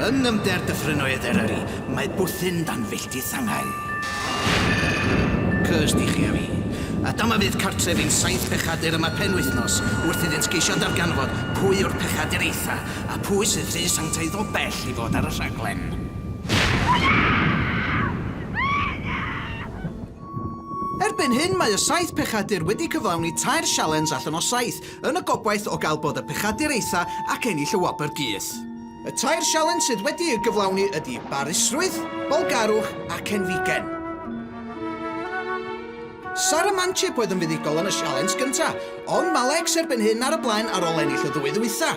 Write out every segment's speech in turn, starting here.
Yn ymder dyffryn oed Eryri, mae bwthyn dan filltir Sanghain. Cursed i chi a fi. A dyma fyd cartref i'n saith pechadur yma penwythnos, wrth iddynt geisio darganfod pwy yw'r pechadur eitha, a phwy sydd rhy sanctaidd o bell i fod ar y rhaglen. Erbyn hyn, mae y saith pechadur wedi cyflawni tair sialens allan o saith, yn y gobaith o gael bod y pechadur eitha ac ennill y wobr gys. Y tair sialens sydd wedi'u gyflawni ydi barusrwydd, bolgarwch a cenfigen. Sara Manchip oedd yn fuddugol yn y sialens gyntaf, ond mae Lex erbyn hyn ar y blaen ar ôl ennill y ddwy ddwytha.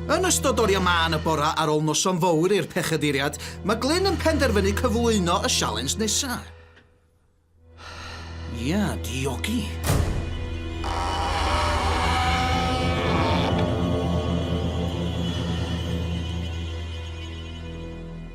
Yn ystod oriau mân y bora ar ôl noson fowr i'r Pechaduriad, mae Glyn yn penderfynu cyflwyno y sialens nesa. Ia, diogi.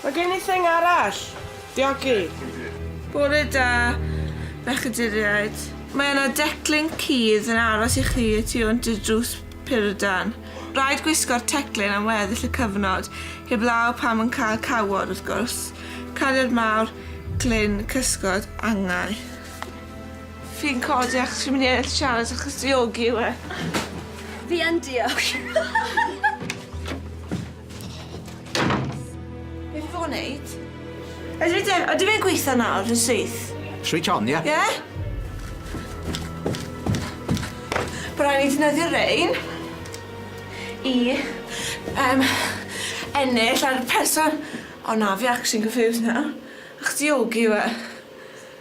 Mae gen i thing arall. Diogi. Bore da, bechaduriaid. Mae yna declyn cudd yn aros i chi y tu hwnt i'r drws purdan. Rhaid gwisgo'r teclyn am weddill y cyfnod, heblaw pam yn cael cawod, wrth gwrs. Cariad mawr, Glyn, Cysgod, Angau. Fi'n codi achos fi'n mynd i ennill sialens achos diogi yw e. Fi yn diog. Beth fo neud? Ydy fe, ydy fe'n gweithio nawr, yn syth? Switch on, ie? Ie? Bo' rai' ni defnyddio rein i yym ennill ar person... O na, fi actually'n confused nawr. Ych diogi yw e?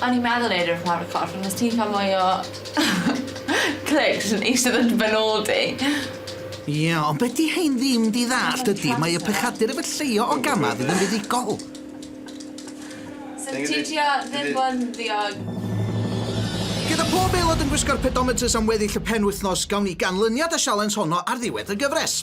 O'n i'n meddwl neud e wrth lawr y corff ond os ti'n ca'l mwy o clicks yn eistedd yn dy ben ôl di. Ie, ond be' 'di rhein ddim 'di ddallt ydi mae y pechadur efo lleio o gama fydd yn fuddugol. Sut ti'n trio ddim bo' yn ddiog? Gyda pob aelod yn gwisgo'r pedometers am weddill y penwythnos, gawn ni ganlyniad y sialens honno ar ddiwedd y gyfres.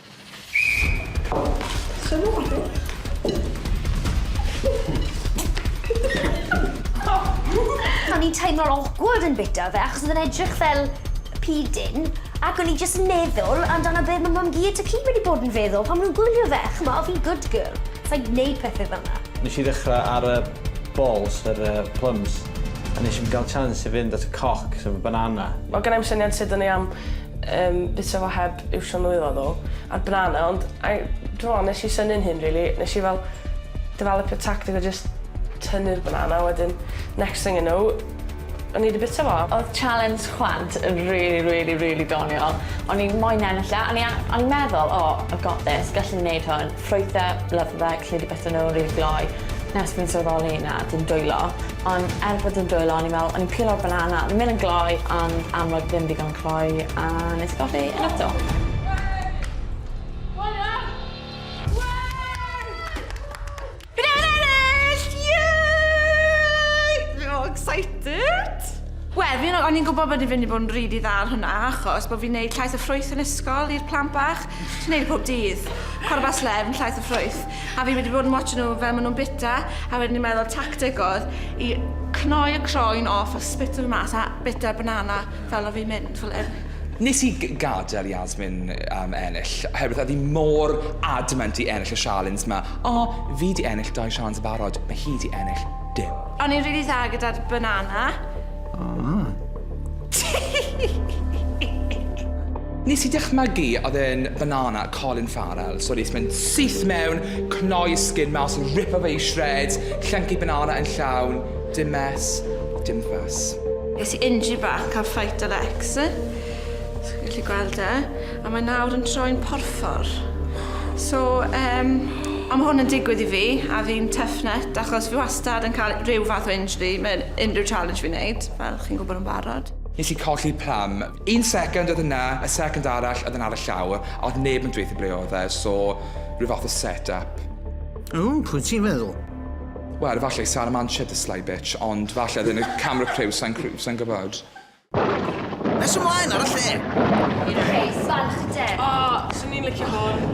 O'n i'n teimlo'n awkward yn bita fe achos oedd e'n edrych fel pidyn ac o'n i jyst yn meddwl amdano be' ma' mam-gu a Taki'n mynd i bod yn feddwl pan ma' nhw'n gwylio fe. Ch'mo' o' fi'n good girl. Sai'n gwneud pethe fel 'na. Nesh i ddechra ar y balls yr yy plums a nesh i'm ga'l chance i fynd at y cock sef y banana. Ma' gennai'm syniad sud o'n i am Yym bysa fo heb iwsio nwylo ddo. A'r banana ond I dw'mo' nes i synnu'n hyn rili nes i fel defelypio tactic o jyst tynnu'r banana wedyn next thing I know o'n i 'di bita fo. Odd challenge chwant yn rili rili rili doniol. O'n i moyn ennill e o'n i a- o'n i'n meddwl oh I've got this gallwn i neud hwn. Ffrwythe, love fe, credu bytha n'w rili gloi. Nes fi'n sylweddoli na, dim dwylo. On' er bod dim dwylo o'n i'n me'wl o'n i'n peelo'r banana o'n i'n myn' yn gloi on' amlwg ddim digon cloi a nes i golli e eto. Fi'n ennill! Yay! Fi mor excited! Wel fi yn o- o'n i'n gwbo bod 'di fyn' i bod yn rili dda ar hwnna achos bo' fi'n neud llais y ffrwyth yn ysgol i'r plant bach. Neud pob dydd. Cwrw bach slem, llaeth a ffrwyth. A fi wedi bod yn watcho nhw fel ma' nhw'n bita a wedyn ni'n meddwl tactic oedd i cnoi y croen off a spito fe mas a bita banana fel o fi'n mynd fel 'yn. Nes i g- gadel Yasmin yym ennill oherwydd oedd hi mor adamant i ennill y sialens 'ma. O, fi 'di ennill dau sialens yn barod, ma' hi 'di ennill dim. O'n i'n rili dda gyda'r banana. O! Nes i dychmygu oedd e'n banana Colin Farrell, so nes mynd syth mewn, cnoi sgin mas, ripo fe i shreds, llyncu banana yn llawn, dim mess, dim fuss. Es i injury back cael fight â Lex, os chi'n gallu gweld e, a mae nawr yn troi'n porffor. So yym a ma' hwn yn digwydd i fi a fi'n tough nut achos fi wastad yn cael rhyw fath o injury mewn unrhyw challenge fi'n neud. Fel chi'n gwybod yn barod. Nes i colli pram. Un second oedd yna, y second arall oedd yn ar y llawr, a oedd neb yn dweutho ble oedd e, so rhyw fath o set up. O, pwy ti'n feddwl? Wel, efallai Sara Manship, the sly bitch, ond falle oedd yn y camera crew, sa'n crew, sa'n gwybod. Nes ymlaen ar y lle! I'r rhes, falch y den. O, swn i'n licio hwn.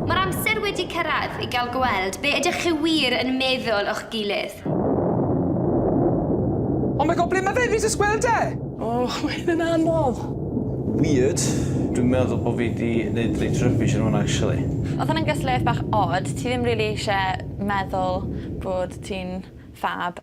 Mae'r amser wedi cyrraedd i gael gweld be ydych chi wir yn meddwl o'ch gilydd. Oh my God, ble mae fe? Fi jyst gweld e! Oh, mae hyn yn anodd! Weird. Dwi'n meddwl bo fi di neud reit rubbish yn hwn actually. Odd hwnna'n gystadleuaeth bach od, ti ddim rili isie meddwl bod ti'n ffab.